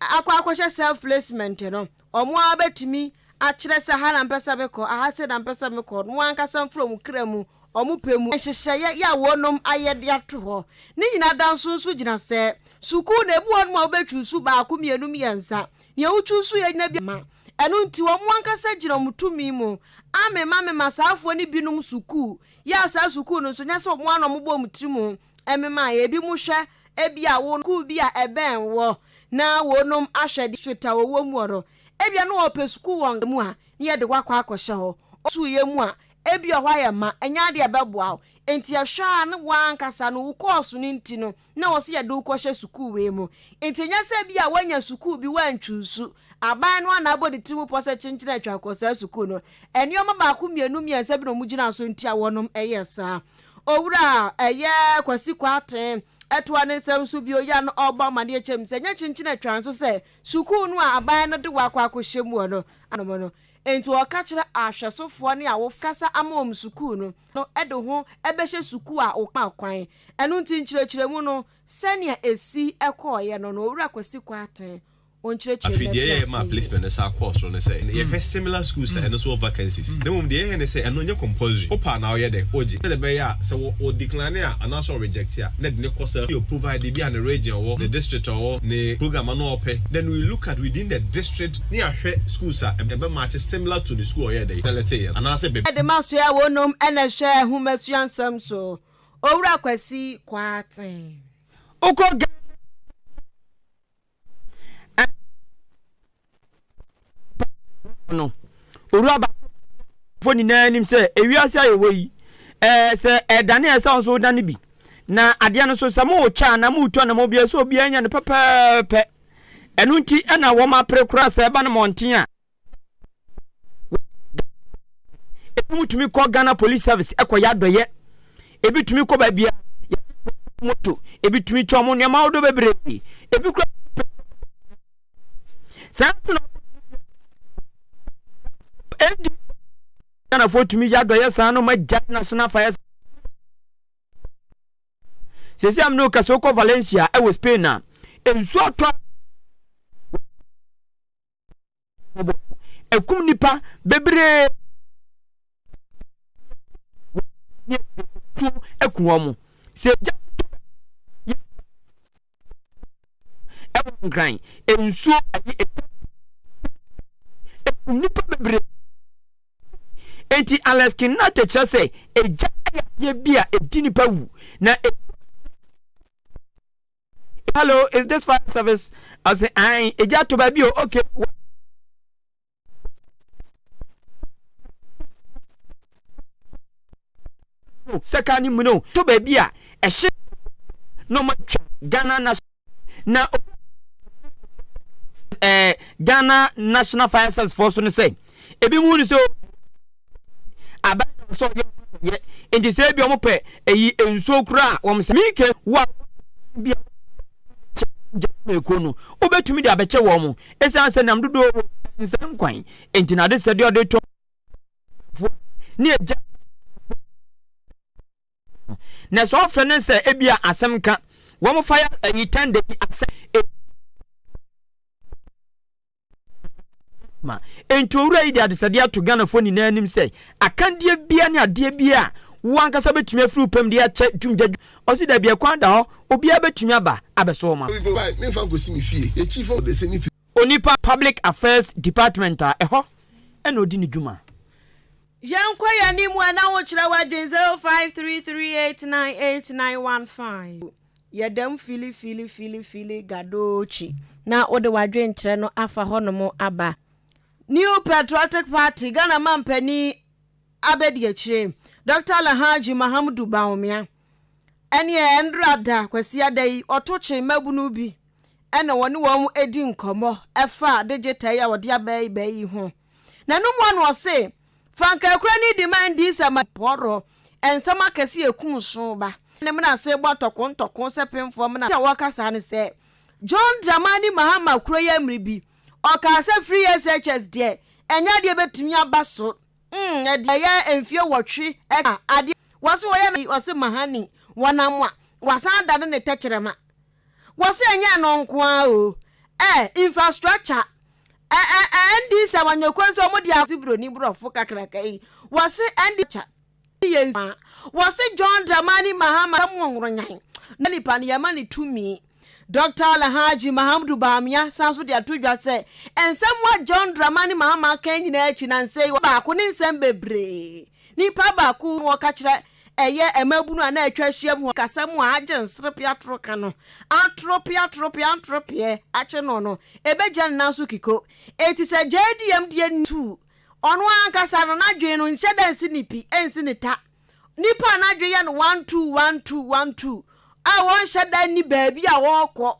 akɔ akɔhyɛ self placement no, wɔn ara bɛtumi akyerɛ sɛ ha na mpɛ sɛ mekɔ, aha sei na mpɛ sɛ mekɔ, wɔn ankasa mfiri wɔn kra mu, wɔn pɛ mu. Nhyehyɛeɛ yɛ a wɔnom ayɛ de ato hɔ. Ne nyinaa da nso nso gyina sɛ, sukuu no ebi wɔ hɔnom a wobɛ chuusu baako, mmienu, mmiɛnsa. Nea wo chuusu yɛ nyina bi ma. Ɛno nti wɔn ankasa gyina wɔn tumi mu amema mema saafoɔ no binom sukuu, yɛ a saa sukuu no nso nyɛ sɛ wɔn ara na wɔbɔ wɔn tiri mu Ɛmema ebinom hwɛ ebia wɔn kuw bi a ɛbɛn wɔ na wɔnom ahwɛ district a wɔwɔ mu hɔ no. Ebia na wɔpɛ sukuu wɔ nka mu a, na yɛde wo akɔ akɔhyɛ hɔ. Ɔsukuu yɛ mu a, ebia hɔ ayɛ ma, ɛnyɛ ade a ɛbɛboa wo. Enti ɛhwɛ a na w'ankasa no wo kɔɔso no nti no, na wɔse yɛde wo kɔhyɛ sukuu wei mu. Enti ɛnyɛ sɛ ebia woanya sukuu bi woantwuusu, Aban no a n'abɔ ne ti ho pɔ sɛ kyenkyen a atwa kɔ saa sukuu no, nneɛma baako mmienu mmiɛnsa bi na wɔgyinaa so nti a wɔnom yɛɛ saa. Owura a ɛyɛ Kwasi Kwarteng toa ne nsɛm so bio yɛ a na ɔrebɔ amanneɛ kyerɛ me sɛ ɛnyɛ kyenkyen a atwa nso sɛ sukuu no a aban no de wɔakɔ akɔhyɛ mu hɔ no anom no nti ɔka kyerɛ ahwɛsofoɔ ne awofo kasa ama wɔn sukuu no de ho bɛhyɛ sukuu a wɔkaa kwan ɛno nti nkyerɛkyerɛmu no sɛnea ɛsi kɔeɛ no no Owura Kwasi Kwarteng wɔnkyerɛkyerɛ Afei deɛ yɛyɛ maa placement no saa kɔɔ soro ne sɛ yɛhwɛ similar schools a ɛno nso wɔ vacancies na mmom deɛ yɛyɛ ne sɛ ɛno nyɛ compulsory, wopɛ a na woyɛ dɛn? wogye sɛdeɛ ɛbɛyɛ a sɛ wɔ ɔ decline a anaasɛ ɔ reject a na yɛde no kɔ saa field provided ebia ne region a ɔwɔ, ne district a ɔwɔ, ne program a na ɔpɛ then we look at within the district ne yɛahwɛ schools a ɛbɛ match similar to ne school a ɔyɛɛ dɛn? selecteeɛ no anaasɛ bɛ. Yɛde ma soɛ wonom na ɛhwɛ nhomasua nsɛm so, Owura Kwasi Kwarteng. Wokɔ Ghana a, no owura baafo nyinaa nim sɛ ewiase a yɛwɔ yi ɛɛ eh, sɛ ɛdane a ɛsɛ nso wodane bi na adeɛ no so sɛ mowotwa anaa mowotwa na mobia sɛ obiara nya no pɛpɛɛpɛ ɛno nti ɛna wɔn apere koraa sɛ ɛba no mmɔnten a ebi mu tumi kɔ ghana police service ɛkɔ yɛ adɔyɛ ebi tumi kɔ baabi a moto ebi tumi twa ɔmo nneɛma ahodoɔ bebree ebi kura saa na ɛdi ghanafoɔ tumi yɛ adɔyɛ saa no ma gya national fire sɛsi am no kɛse wokɔ valencia ɛwɔ spain a nsuo atɔ ɛkum nipa bebree ɛku wɔn mo sɛ gya ɛwɔ nkran nsuo ɛyi ɛkum nipa bebree eti alex kinate kyerɛ sɛ egya ɛyɛ adeɛ bi a edi nipa wu na. E hello is this fire service ɔsɛ an egya ato baabi o okay. sɛ kaa ne mu no to baabi a ɛhye na ɔma twa ghana na na ɛɛ ghana national fire service foɔ so no sɛ. Ebinom hu no sɛ obi a aban da no so a ɔyɛ ɔdɔ kɛseɛ, enti sɛ ebia wɔpɛ ayi nsuo koraa a, wɔsɛ. Mike, wo a wowɔ aban bi a wode bɛkyɛ gyata akuo no, wobɛtumi de abɛkyɛ wɔn? Esiane sɛ nam dodoɔ wɔ ɔmansin nkwan nti na adesrɛdeɛ a wɔde reto abaguafoɔ ne agya a ɔpɛ no na sɛ wɔfrɛ no sɛ ebia asɛm ka wɔn fire ayi tɛnda bi asɛm ma enti owura yi de adesɛdeɛ ato Ghanafoɔ nyinaa anim sɛ akandeɛ biara ne adeɛ biara a wo ankasa bɛtumi afiri wo pam de akyɛ dwumgya ɔse dabi ɛkwan da hɔ obiara bɛtumi aba abɛsɔ wɔn afa. Onipa Public Affairs Department a ɛhɔ na ɔdi ne dwuma. Yɛnkɔ yɛn anim a na wokyerɛ w'adwene zero five three three eight nine eight nine one five. Yɛ dɛm filifilifilifili Gadochi. Na wode w'adwenkyerɛ no afa hɔnom aba. New Patriotic Party, Ghana Manpanin Abadiakyire, Dɔkta Alhaji Mahamudu Bawumia, ɛneɛ ɛndra da Kwasiada yi, ɔto kye mmabunu bi ɛna wɔne wɔn adi nkɔmmɔ ɛfa digital yi a wɔde aba yi bɛ yi ho. N'anum ano ɔse, Fa nkaekora no di ma ɛndi nsɛ ma pɔɔrɔ nsɛm akɛse a ekum so ba. Ne mena ase bɔ ntɔko ntɔko sɛ pemfoɔ mena a wɔka saa ne sɛ, John Dramani Mahama kuro yɛ mmere bi, ɔkaa sɛ free SHS deɛ, ɛnyɛ adeɛ a ɛbɛtumi aba so. Mm, ɛdeɛ ɛyɛ mfeɛ nwɔtwe ɛka adeɛ. Wɔse wɔyɛ no, wɔse Mahani, wɔnam a, wɔasan adane ne tɛkyerɛma. Wɔ sɛ ɛnyɛ ɛno nko ara o, ɛ, infrastructure, ɛ, ɛ, ɛ, ND sɛ wɔnyɛ kwan sɛ wɔde ase buroni borɔfo kakraka yi, wɔ se ND culture ne yɛn nsa, wɔ se John Dramani Mahama sɛ mo nworonyan no nipa no yɛma no tumi. Dɔkta Alhaji Mahamudu Bawumia san so de ato dwa sɛ nsɛm a John Dramani Mahama aka nyinaa akyi nansa yi wɔ baako ne nsɛm bebree, nipa baako na ɔka kyerɛ Ɛyɛ mmabunu a na atwa ahyiam hɔ kasa mu a agye nserepe atoro ka no. Atoro pe atoro pe antoro peɛ akye no no, ɛbɛgya ne nan so kiko. Enti sɛ gyae di yam deɛ nni tu. Ɔno ankasa no, n'adwene no nhyɛ da nsi ne pi, ɛnsi ne ta. Nnipa a n'adwene yɛ no one-two, one-two, one-two a wɔnhyɛ da nni baabi a wɔrekɔ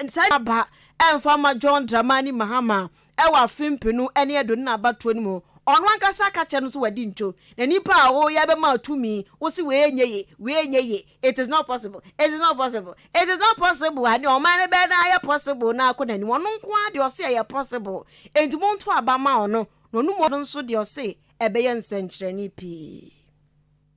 Saa din aba ɛmfa mma John Dramani Mahama wɔ afe mpenu ne aduonu na abatoɔ no mu. Ɔno ankasa ka kyerɛ no sɛ wadi nto. Na nipa a wo yɛ bɛma tumi, wo se wei nyɛ ye, wei nyɛ ye, it is not possible, it is not possible, it is not possible a, deɛ ɔman no bɛyɛ no ayɛ possible no akɔ n'anim. Ɔno nko ara deɛ ɔse ɛyɛ possible. Enti monto aba ma ɔno. Na ɔno mmom nso deɛ ɔse ɛbɛyɛ nsɛnkyerɛnne pii.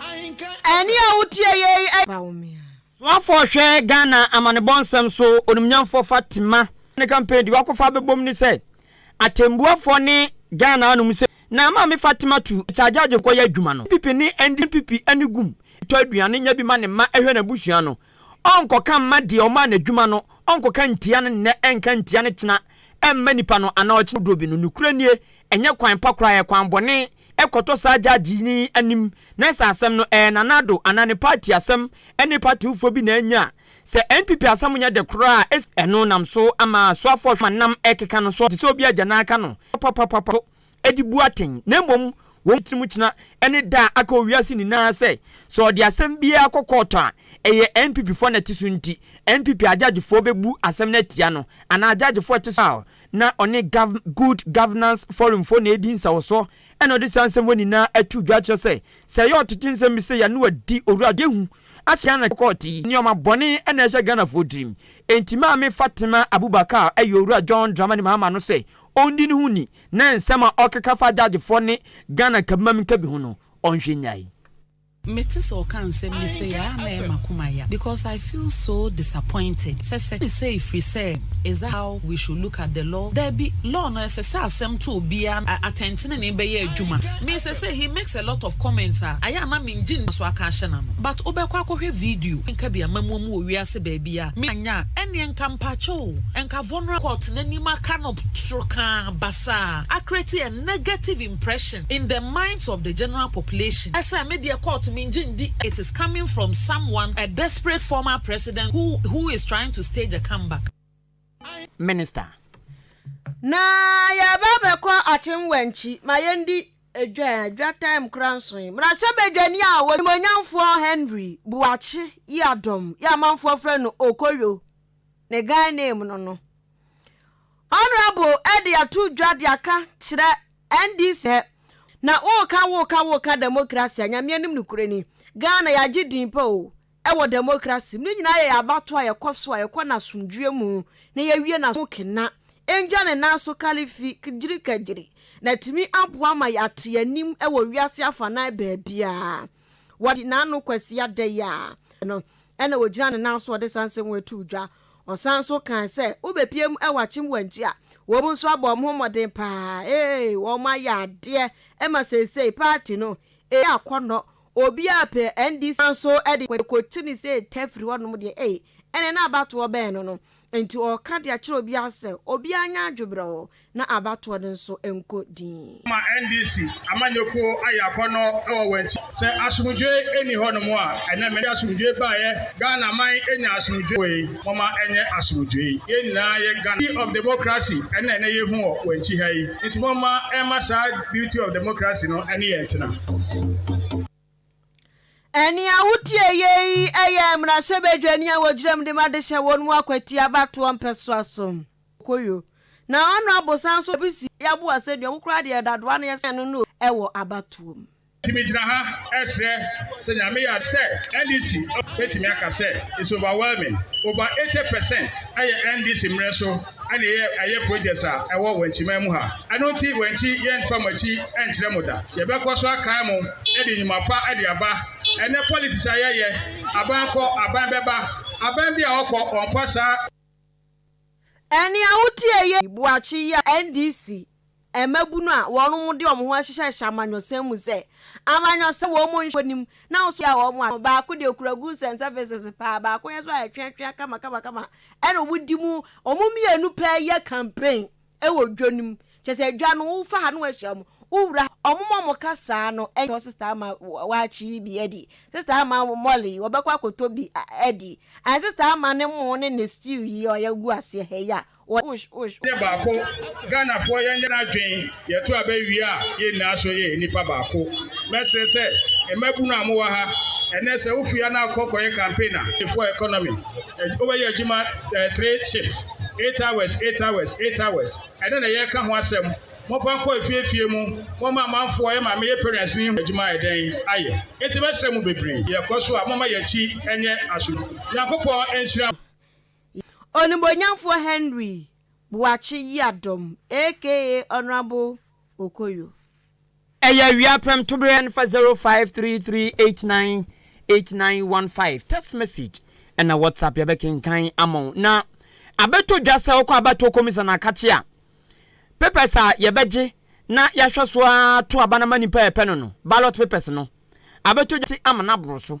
Ɛnne a wotie yei yɛ. Soafoɔ hwɛ Ghana amanebɔ nsɛm so onimnyamfoɔ Fatima. Ne campaign deɛ wakɔfa abɛbom ne sɛ atɛnbuafoɔ ne Ghana anom sɛ na maame Fatima tu charge agye nkɔ yɛ adwuma no NPP ne NDPP ani gum tɔ aduane nya bi ma ne mma ɛhwɛ n'abusua no ɔnkɔka mma deɛ ɔmaa no adwuma no ɔnkɔka ntia no nnɛ ɛnka ntia no kyena ɛmma nipa no anaa ɔkyena dodoɔ bi no nokorɛ nie ɛnyɛ kwan pa koraa ɛyɛ kwan bɔne kɔtɔ saa gyagye no anim na sɛ asɛm no ɛyɛ Nana Addo anaa ne party asɛm ne partyfoɔ bi na anya a, sɛ NPP asɛm nyɛ dɛ koraa a, es, ɛno nam so ama asoafoɔ hwɛ ma nam ɛkeka no so te sɛ obi agya na aka no papapapapa so de bu atɛn na mmom wɔn tirim kyena ne da a aka wɔ wiase nyinaa sɛ sɛ ɔde asɛm biara kɔ kɔɔtɔ a ɛyɛ NPPfoɔ na ɛte so nti NPP agyagyefoɔ bɛbu asɛm no atia no anaa agyagyefoɔ ɛte so a Na ɔne Gov Good Governance Forum foɔ na ɛredi nsawɔsoɔ ɛna ɔde saa nsɛm wei nyinaa ato dwa akyerɛ sɛ, sɛ ɛyɛ ɔtete nsɛm bi sei a ne wadi Owura Adehu ase anaa ne kɔkɔɔ te. Nnoɔma bɔne na ɛhyɛ Ghanafoɔ tirim. Enti Maame Fatima Abubakar ayi Owura John Dramani Mahama ano sɛ ɔndi ne ho nni na nsɛm a ɔkeka fa Judgefoɔ ne Ghana Nkabimma Minkabi ho no ɔnhwɛ nnyae. Me te sɛ ɔka nsɛm yi sei a na ɛyɛ makoma ya because I feel so disappointed sɛ sɛ ne sɛ ɛfiri sɛ is that how we should look at the law daabi law no ɛsɛ sɛ asɛm to obiara a atɛntenenee bɛyɛ adwuma me sɛ sɛ he makes a lot of comments a ayɛ a na me ngye nni so aka ahyɛ n'ano but wo bɛkɔ akɔhwɛ video nka bi amamuo mu wɔ wiase baabi a me anyɛ a ɛneɛ nka mpakyɛw nka vulnerable court n'anim aka no toro kaa basaa akrati negative impression in the minds of the general population sɛ me deɛ court me ngye ndi it is coming from someone a desperate former president who who is trying to stage a come back. Minister. Na yɛreba abɛkɔ Akyem-Wankyi, ma yɛndi dwa a dwa time koraa nso ɛ. Mmarahyɛbadwani a ɔnimonyamfoɔ Henry Boakye Yiadom yi a amanfoɔ frɛ no Okoyo ne Ghana name no no, Honourable ɛde ato dwa de aka kyerɛ NDC sɛ na woka woka woka democracy a nyameɛ nim no kure ni Ghana yɛagye din pa o ɛwɔ democracy mu ne nyinaa yɛ yɛabato a yɛkɔ so a yɛkɔ no asomdwoeɛ mu na yɛwie no ho kena ɛngya ne nan so kalifi kgyiri kagyiri na tumi aboa ma yɛate anim ɛwɔ wiase afanan baabiaa wɔde n'ano kwasi adɛyɛ a no ɛna ɔgyina ne nan so ɔde sansɛm ato dwa Ɔsan nso kae sɛ, Wobepue mu wɔ akyem wankyi a, wɔn nso abɔ wɔn ho mmɔden paa. Ee, wɔayɛ adeɛ ma seesei party no reyɛ akɔnnɔ. Obiara pɛ NDC. Ɔsan nso de kɔto ne sɛ ɛtɛ firi hɔnom deɛ, ei, ɛnneɛ na abatoɔ bɛn no no. Enti ɔreka de akyerɛ obiara sɛ, obiara nyɛ adweberɛɔ Na abatoɔ no nso nkɔ dinn. Ama NDC amanyɔkuo ayɛ akɔnnɔ wɔ wɔn akyi. Sɛ asomdwoeɛ nni hɔnom a, ɛnnɛ mede asomdwoeɛ baeɛ. Ghana man nya asomdwoeɛ wei, momma ɛnyɛ asomdwoeɛ. Yɛn nyinaa yɛ Ghana. Beauty of democracy ɛna ɛnnɛ yɛhu wɔ wɔn akyi ha yi. Nti momma ɛmma saa beauty of democracy no ɛne yɛn ntena. Nea wotie yei yɛ mmarahyɛbadwani a wɔgyinam de ma de hyɛ wɔn mu akwati abatoɔ mpɛsoa so. Okoyo. Na ɔno abosan so bi si yɛabu asɛnnua mu koraa deɛ dadoa no yɛsɛn no no wɔ abatoɔ mu. Nti me gyina ha ɛsrɛ sɛ Nyame yɛ adom sɛ NDC bɛtumi aka sɛ it's overwhelming, over eighty percent ɛyɛ NDC mmerɛ so ɛna ɛyɛ projects a ɛwɔ Wankyiman mu ha. Ɛno nti Wankyi yɛnfa mo akyi ɛnkyerɛ mo da. Yɛbɛkɔ so akae mo ɛde nnwuma pa ɛde aba. Ɛnɛ politics a yɛyɛ, aban kɔ, aban bɛba, aban bi a ɔkɔ ɔnfa saa. Nea wotiee yɛ yi boa kye yi a NDC mmabunu a wɔnom de wɔn ho ahyehyɛhyɛ amanyɔsɛm mu sɛ amanyɔsɛm wɔn mu nhwɛ nim na nso yɛ wɔn a baako deɛ okura goods and services paa baako yɛ so a ɛtweatwea kama kama kama ɛna wɔn di mu wɔn mmienu pɛɛ yɛ campaign Ɛwɔ dwa no mu. Kyerɛ sɛ dwa no wofa ha na wahyia wɔn. Wowura ha. Wɔn a wɔka saa no tɔ sista ama waakye yi bi adi. Sista ama Molly yi, ɔbɛkɔ akɔtɔ bi adi. Anaa sista ama ne mo ne ne stew yi a yɛagu aseɛ ha yi a, wɔ. Yɛnyɛ baako. Ghanafoɔ yɛnyɛ no adwene yɛto aba wie a yɛn nyinaa so yɛ nnipa baako. Mɛsrɛ sɛ mmabunu a mowɔ ha ɛnnɛ sɛ wofi ha na wokɔ kɔyɛ campaign a, for economy wobɛyɛ adwuma three shifts. Eight hours, eight hours, eight hours, ɛno na yɛreka ho asɛm. Momfa nkɔ afie afie mu, momma amanfoɔ ɛma meyɛ parents no nhu adwuma a ɛdɛn ayɛ. Enti mɛsrɛ mo bebree, yɛkɔ so a momma yɛn akyi nyɛ asodwo. Nyankopɔn nhyira mo. Onimuonyamfoɔ Henry Boakye Yiadom aka Honourable Okoyo. Ɛyɛ awia prɛm tobere ɛne fa zero five three three eight nine eight nine one five text message ɛna WhatsApp yɛbɛkenkan ama wo na abɛtɔ dwa sɛ wokɔ abatoɔ kɔmisa no akakye a papers a yɛbɛgye na yɛahwɛ so ara to aba no ama nipa a yɛpɛ no no ballot papers no abɛtɔ dwa ama no aboro so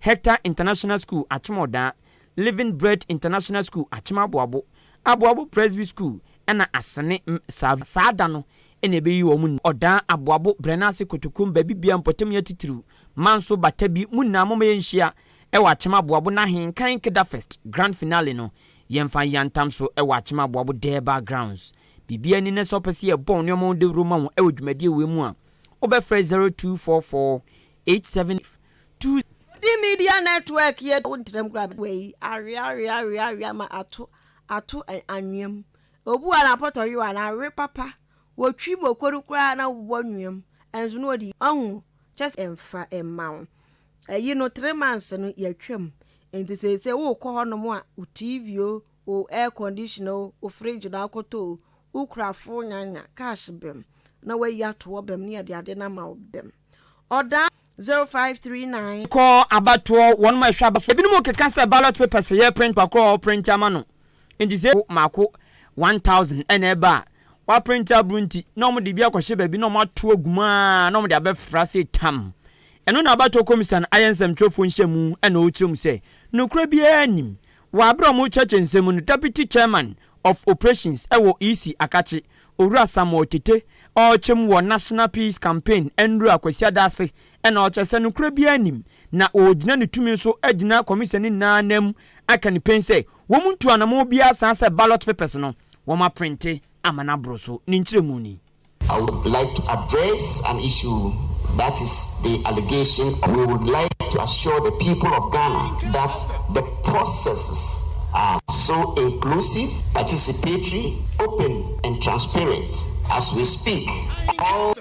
Hector International School, Akyem Ɔdaa, Living Bread International School, Akyem Aboabo, Aboabo Presby School ɛna Asene Msav. Saa da no na ɛbɛyi wɔn nyinaa. Ɔdaa, Aboabo, Brɛnase, Kotokuo, Mbabibia, Mpɔtamnya Titiriw, Manso, Batabi, mo nyinaa momma yɛnhyia wɔ Akyem Aboabo n'ahenkan Kedafest Grand Finale no, yɛmfa nyɛ antam so wɔ Akyem Aboabo Derbah Grounds. Biribiara ni na sɛ wopɛ sɛ yɛbɔ wo nneɛma wo dawuro ma wo wɔ dwumadie wei mu a, wobɛfrɛ 0244 eight seven five two. Udi Media Network yɛ wo ntɛm kura bɛ wɔ yi aweaweaweawea ma ato ato anwea mu obu a na pɔtɔ yewa na awe papa wɔ twi mu okodu koraa na wobɔ anwea mu ɛnso na ɔdi ɔho kyɛs ɛmfa ɛmma wo ɛyi no three months no yɛatwa mu nti sɛ sɛ wo kɔ hɔ nom a wo TV o wo air condition o wo fridge na akɔtɔ o wo kura fo nyanya cash bɛm na wayi atoɔ bɛm ne yɛde ade na ma wo bɛm. Ɔda, zero five three nine. Kɔ abatoɔ wɔn mo ɛhwɛ abatoɔ ebinom keka sɛ ballot papers yɛ print pakorɔ a ɔprint ama no nti sɛ ebi maako one thousand ɛna ɛba a waprint abro nti na wɔn de bi akɔhyɛ baabi na wɔn ato agu mu aa na wɔn de abɛfra sei tam ɛno na abatoɔ kɔmisan ayɛ nsɛmtwerɛfoɔ nhyiamu ɛna ɔrekyerɛ mu sɛ nokorɛ biara nnim Wɔ aberɛ a wɔrekyerɛkyerɛ nsɛm mu no, Deputy Chairman of Operations wɔ EC Akakye, Owura Samuel Tete, ɔrekyɛ mu wɔ National Peace Campaign Nnura Kwasiada ase na ɔkyerɛ sɛ nokorɛ biara nnim na ɔregyina ne tumi so agyina Commission no nyinaa nan mu aka no pen sɛ wɔn ntu anamɔn biara saa sɛ ballot papers no wɔaprente ama no aboro so. Ne nkyerɛmu ni. I would like to address an issue that is the allegation of we would like to assure the people of Ghana that the processes are so inclusive, participatory, open and transparent as we speak all.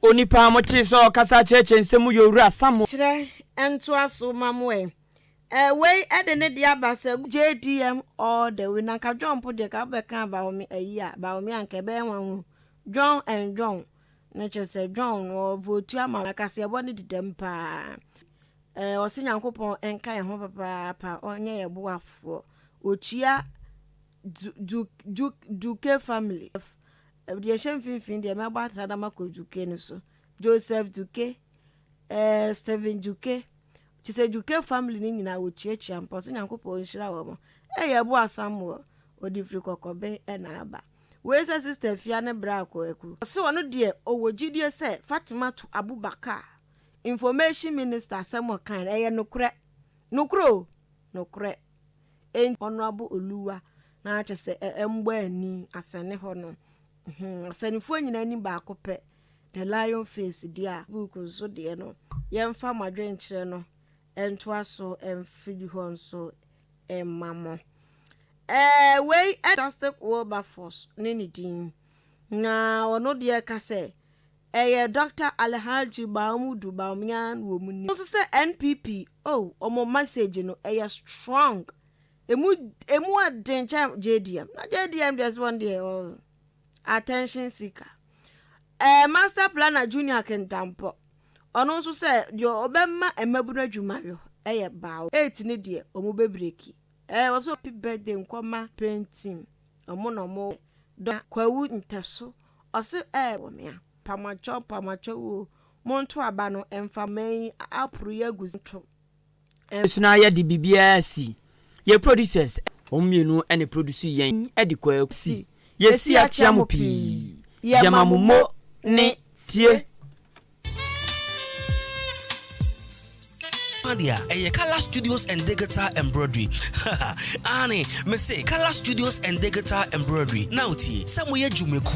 Onipa a motee sɛ ɔrekasa akyerɛkyerɛ nsɛm mu yɛ Owura Samuel. Kyerɛ ntoa so ma mo ɛ. Eh wei de ne de aba sɛ JDM all the way na nka John mpo deɛ ka wobɛka Bawome ayi a Bawome a nka ɛbɛyɛ nwanwa John and John ne kyerɛ sɛ John no ɔvotu ama na kaseɛbɔ ne di dɛm paa eh ɔse Nyankopɔn nka yɛn ho papaapa ɔnyɛ yɛ boafoɔ ɔkyia du du du duke family deɛ ɛhyɛ mfimfini deɛ mɛbɔ atradama kɔ duke no so Joseph duke Ɛɛ Stephen Dwuke, kyerɛ sɛ Dwuke family no nyinaa wɔkyiakyia mpa ɔsɛ Nyankopɔn nhyira wɔn. Ɛɛ yɛ bo Asamoah, ɔde firi Kɔkɔben ɛna aba. Wei sɛ sister Afia ne bra Kwaku. Ɔse ɔno deɛ ɔwɔ gyidie sɛ Fatimatu Abubakar information minister asɛm a ɔkae no ɛyɛ nokorɛ. Nokorɛ oo! Nokorɛ. Enti Honourable Oluwa na kyerɛ sɛ ɛmbɔ ani asɛne hɔ no. Asɛnefoɔ nyinaa anim baako pɛ. The Lion Face deɛ a book nso deɛ no yɛmfa mo adwenkyerɛ no ntoa so mfiri hɔ nso mma mo. Ɛɛ wei Fantastic Wilberforce ne ne din na ɔno deɛ ka sɛ ɛyɛ Doctor Alhaji Mahmudu Bawumia na wɔn nim no nso sɛ NPP oh wɔn message no ɛyɛ strong emu emu aden kyɛn JDM na JDM deɛ sɛ wɔn deɛ oh. attention seeker. Ɛɛ Master Planner Junior Kentampɔ, ɔno nso sɛ deɛ ɔbɛma mmabunu adwuma yɔ ɛyɛ baawo. Eight ne deɛ ɔmo bɛ breki. Ɛɛ wɔ so happy birthday nkɔma paint team, ɔmo na ɔmo dɔ Kwawu Ntɛso, ɔse ɛɛ wɔ me a. Pamwɔtwɔ pamwɔtwɔ oo, monto aba no mfa mma yi aporo yi agu nto. nso na yɛde biribiara si. Yɛ producers, wɔn mmienu na ɛproduce yɛn de kɔ akusi. Yɛsi akyea mo pii. Yɛma mo mo ne tie. Adeɛ a ɛyɛ Color Studios and Digital Embroidery aane mese Color Studios and Digital Embroidery na wotie sɛ moyɛ dwumaku